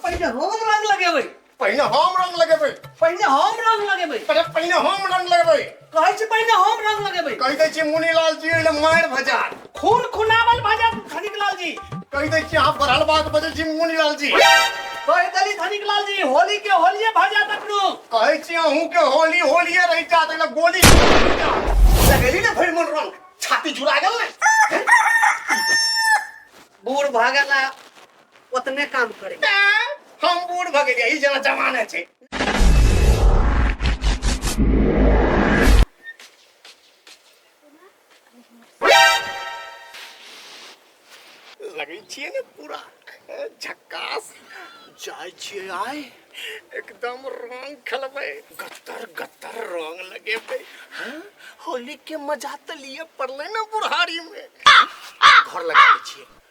पहिने हम रंग लगेबै पहिने हम रंग लगेबै पहिने हम रंग लगेबै अरे पहिने हम रंग लगेबै कहै छी पहिने हम रंग लगेबै कहि दै छी मुनीलाल जी ले मारि भजा खून खुनावल भजा धनिक लाल जी कहि दै छी अहाँ बढ़ल बात बजै छी मुनीलाल जी कहि देली धनिक लाल जी होली के होलिये भजा तकनो कहै छी अहूँ के होली होलिये रहि जात एहिमे गोली लगेली ने भरि मन रंग छाती झुरा गेल ने बूढ़ भऽ गेला ओतने काम करे हम बूढ़ भऽ गेलियै ई जेना जमाने छै लगै छियै ने पूरा झक्कास जाइ छियै आइ एकदम रंग खेलबै गत्तर गत्तर रंग लगेबै हाँ? होली के मजा तऽ लिए पड़लै ने बुढ़ारी में घर लगा दै छियै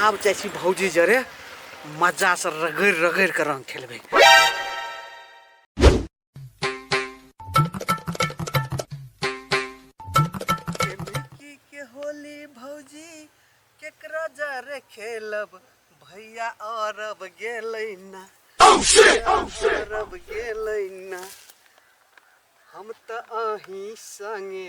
आब जाइ छी भौजी जरे मजासँ रगड़ि रगड़ि कऽ रङ्ग खेलबै होली भौजी केकरा जरे खेलब भैया अरब गेलै ना oh, oh, अरब गेलै ना हम तऽ अहीं संगे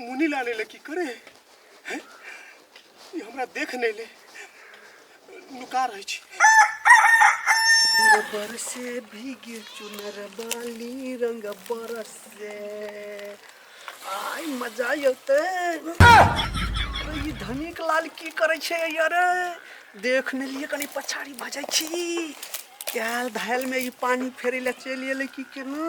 मुनि लाल एले की करे हैं? ई हमरा देख नहीं ले लुका रहे छी गोबर से भीगे चुनर बाली रंग बरस से आई मजा अते अरे ई धनिक लाल की करे छे यार देख ने लिए कनी पछाड़ी भजै छी कैल धायल में ई पानी फेरे ले चलि एले की केना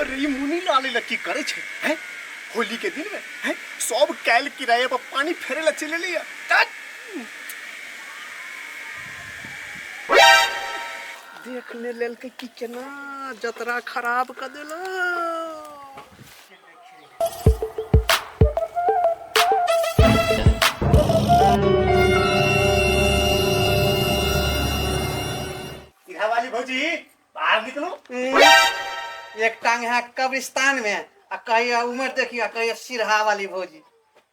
अरे ई मुनी लाल ला की करे छै हैं होली के दिन में हैं सब कैल किराया पर पानी फेरे ला चले लिया तात। देख ले लेल के कि केना जतरा खराब कर देला इहा वाली भौजी बाहर निकलो एक टांग है कब्रिस्तान में आ कहिया उम्र देखिया कहिया सिरहा वाली भौजी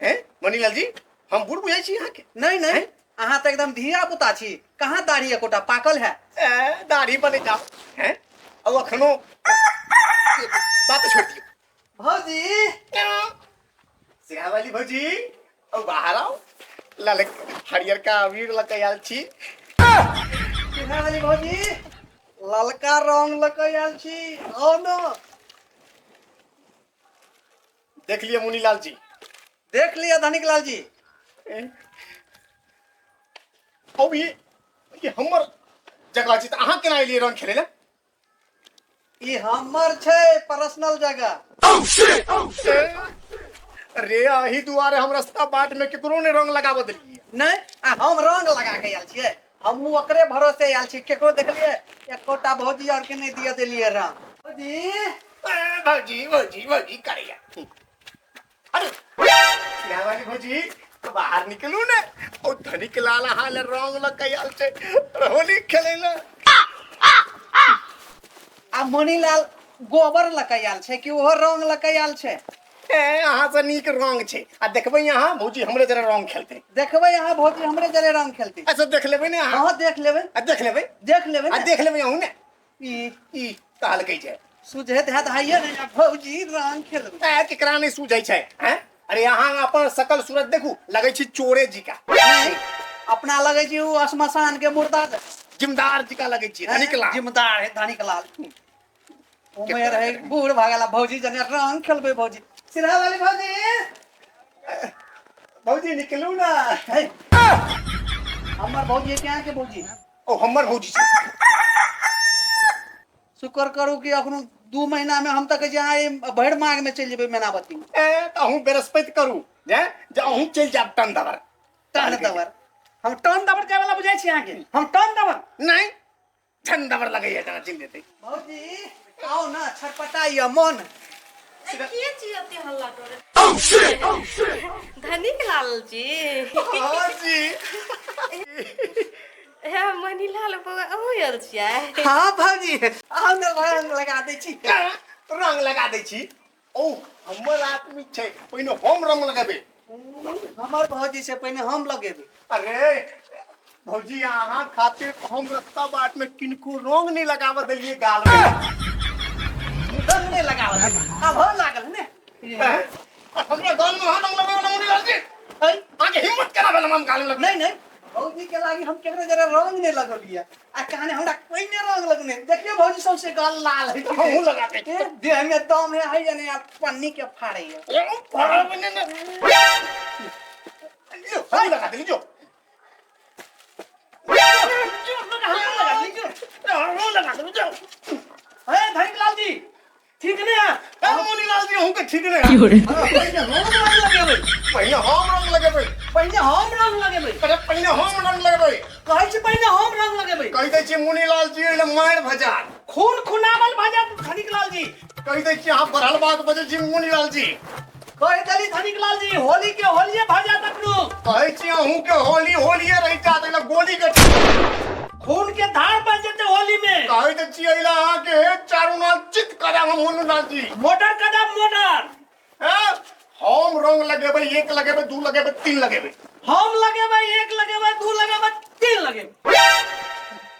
हैं मनीलाल जी हम बूढ़ बुझाई छी अहाँ के नहीं नहीं अहाँ तो एकदम धिया पुता छी कहाँ दाढ़ी एकोटा पाकल है ए, दाढ़ी बने जाओ हैं अब अखनो बात छोड़ दियो भौजी सिया वाली भौजी अब बाहर आओ लाल हरियर का अबीर लके आयल छी सिया वाली भौजी ललका रंग लके आयल छी आओ ना देख लिए मुनीलाल जी देख लिया धनिक लाल जी अब ये ये हमर जगह छी तऽ अहाँ केना एलियै रन खेलै लए ई हमर छै पर्सनल जगह रे अही दुआरे हम रास्ता बाट में केकरो ने रंग लगाबऽ देलियै नहि आ हम रंग लगा के आयल छियै हमहूँ ओकरे भरोसे आयल छी केकरो देखलियै एकोटा भौजी और के नहीं दिए देलिए राम भौजी भौजी भौजी भौजी करिया अरे गावाली भौजी तो बाहर निकलू ने ओ धनिक लाल हाल रंग ल कयाल से होली खेले ना आ मनीलाल गोबर लकैयाल छै कि ओहो रंग लकैयाल छै ए, अहाँ से नीक रंग छै आ देखबै अहाँ भौजी हमरे जरे रंग खेलते देखबै अहाँ भौजी हमरे जरे रंग खेलते ऐसे देख लेबै ने अहाँ अहाँ देख लेबै आ देख लेबै देख लेबै आ ने। देख लेबै अहूँ ने ई ई कहल कहै छै सुझैत हैत हाइए ने आ भौजी रंग खेलबै ए, केकरा नहि सूझै छै हैं? अरे अहाँ अपन सकल सूरत देखू लगै छी चोरे जी का नहि, अपना लगै छै ओ श्मशान के मुर्दा जिमदार जी का लगै छी धनिक लाल जिमदार है धनिक लाल उमेर है बूढ़ भागेला भौजी जने रंग खेलबे भौजी सिरा वाली भौजी भौजी निकलू ना है हमर भौजी क्या के भौजी ओ हमर भौजी शुक्र करू कि अखनो दू महीना में हम तक जाए भर माग में चल जेबे मेनावती ए त अहूं बृहस्पति करू जे जे अहूं चल जाब टन दबर टन दबर हम टन दबर जाए वाला बुझाई छी अहाँ के हम टन दबर नहीं ठंडा पर लगे है जना चिन देते भौजी आओ ना छटपटा या मन अरे के चीज अते हल्ला करे धनिक लाल जी और जी हे मनी लाल बउआ अहू आयल छियै हां भौजी आओ ना रंग लगा दै छी रंग लगा दै छी ओ हमर आदमी छै पहिने हम रंग लगेबै हमर भौजी से पहिने हम लगेबै अरे भौजी अहाँ खातिर हम रस्ता बाट में किनको रंग नहीं लगाव देलिए गाल में रंग नहीं लगाव देलिए अब हो लागल ने हमरा गाल में रंग लगाव नहीं आगे हिम्मत करा बेलम गाल में नहीं नहीं भौजी के लागी हम केकरो जरा रंग ने लगलिया आ कहने हमरा कोई ने रंग लगने देखियो भौजी सौंसे गाल लाल है हमहूँ लगा दे ए, देह में दम है है जने यार पन्नी के फाड़े है ए, भरा बने ना। लो, हमहूँ लगा दे जो हमहूँ लगा दे जो ए, धनिक लाल जी ठीक ने ए मोनी लाल जी हूं के ठीक ने की हो रे पहिने हम रंग लगेबै पहिने हम रंग लगेबै पहिने हम रंग लगेबै अरे पहिने हम रंग लगेबै कहै छी पहिने हम रंग लगेबै कहि दै छी मुनि लाल जी एले मार भजा खून खुनावल भजा धनिक लाल जी कहि दै छी अहाँ बढ़ल बात बजै छी मुनि लाल जी कहै छली धनिक लाल जी होली के होलिये भऽ जायत अपनो कहै छी अहूँ के होली होलिये रहि जात एला गोली के खून के धार बन जेते होली में कहै त छी एला अहाँ के हे चारू नाल चित करब हम होनू नाल जी मोटर कदम मोटर हैं? हम रंग लगेबै एक लगेबै दू लगेबै तीन लगेबै हम लगेबै एक लगेबै दू लगेबै तीन लगेबै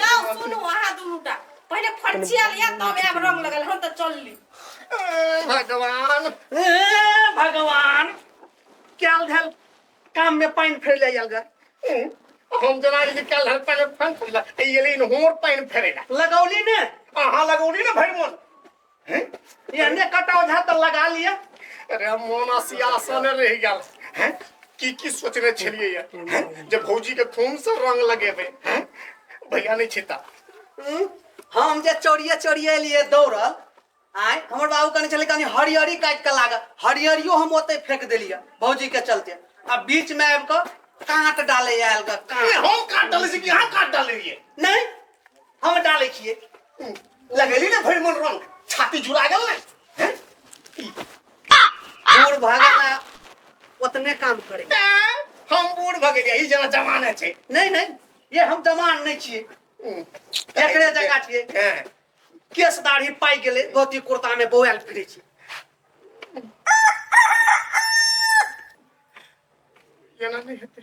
जाओ सुनू अहाँ दुनूटा पहिले फर्ची आल या तब आब रंग लगल हम तऽ चलली भगवान ए भगवान कैल धल काम में पानी फेर ले जाएगा हम जना जे कैल धल पानी फेर फेर ले ये लेकिन होर पानी फेरेला लगौली ने अहाँ लगौली ने भरि मन हैं एने कटा ओझा तो लगा लिया अरे मोना सियासन रह गया हैं की की सोचने छलिए ये हैं जब भौजी के खून से रंग लगेबे हैं भैया नहीं छिता हम्म, हम जे चोरिए चोरिए लिए दौड़ल आय हमर बाबू कहने छलै कनी हरियरी काटि कऽ लागल हरियरियो हम ओतै फेंक देलियै भौजी के चलते आ बीच में आबि कऽ काँट डालै आयल ग ए, काँट हम काट डाले छी कि यहाँ काट डाले रहिए नहीं हम डालै छियै हम्म, लगेली ने भरि मन रंग छाती जुड़ा गेल ने हैं? ई, बूढ़ भऽ गेला ओतने काम करे ऐं, हम बूढ़ भऽ गेलियै ई जेना जमाने छै नहीं नहीं ये हम जवान नहीं छियै हम्म, एकरे जगह छियै हैं, केस दाढ़ी पाइ गेलै धोती कुर्ता में बौआल फिरे छी एना नहि हेतै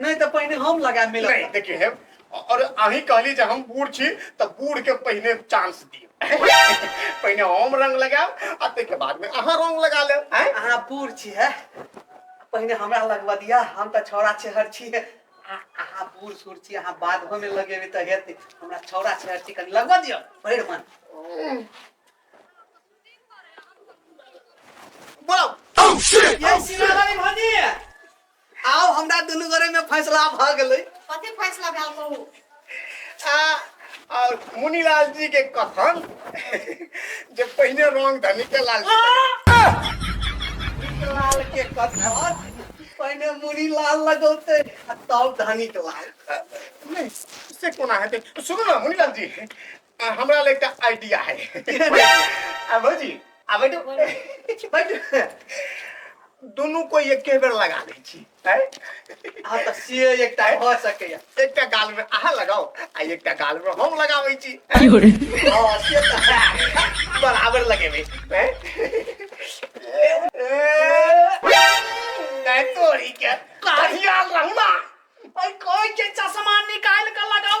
नहीं तो पहले हम लगा मिल नहीं देखिए है और अही कहली जे हम बूढ़ छी तो बूढ़ के पहले चांस दियो पहले हम रंग लगाओ आ ते के बाद में अहाँ रंग लगा ले हैं अहाँ बूढ़ छी है पहले हमरा लगवा दिया हम तो छौड़ा छेहर छी है आ- अहाँ बूढ़ सूढ़ छी अहाँ बाद में लगेबे तो हेते हमरा छौड़ा छेहर छी कनी लगवा दियो भैर मन बोलो ये सिंगार वाली भौजी आउ हमरा दुनू गोरे में फैसला भ गेलै कथी फैसला भेल कहू आ और मुनीलाल जी के कथन जे पहिने रंग धनी के लाल लाल के कथन पहिने मुनी लाल लगौते आ तब धनी के लाल नहीं से कोना हेतै सुनू ना मुनीलाल जी आ, हमरा लग एकटा आइडिया है आ भौजी आ बैठो बैठो दुनू कोई एके बेर लगा दै छी हैं? आ तऽ से एकटा भऽ सकैया एकटा गाल में अहाँ लगाओ आ एकटा गाल में हम लगाबै छी हँ, से तऽ है। बराबर लगेबै हैं? ए, तोरी के कहिया रहना ओइ कोइ के चश्मा निकाल के लगाओ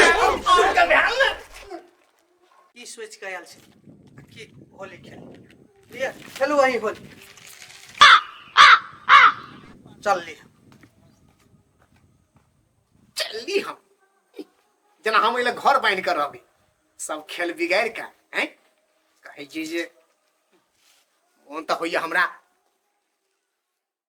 ब्राह्मण की सोच के आयल छी की होली खेल खेलू अही होली चल ली चल ली हम जना हम अइले घर बांध कर रहबी सब खेल बिगाड़ का हैं कहे जी जे मोन तो होइया हमरा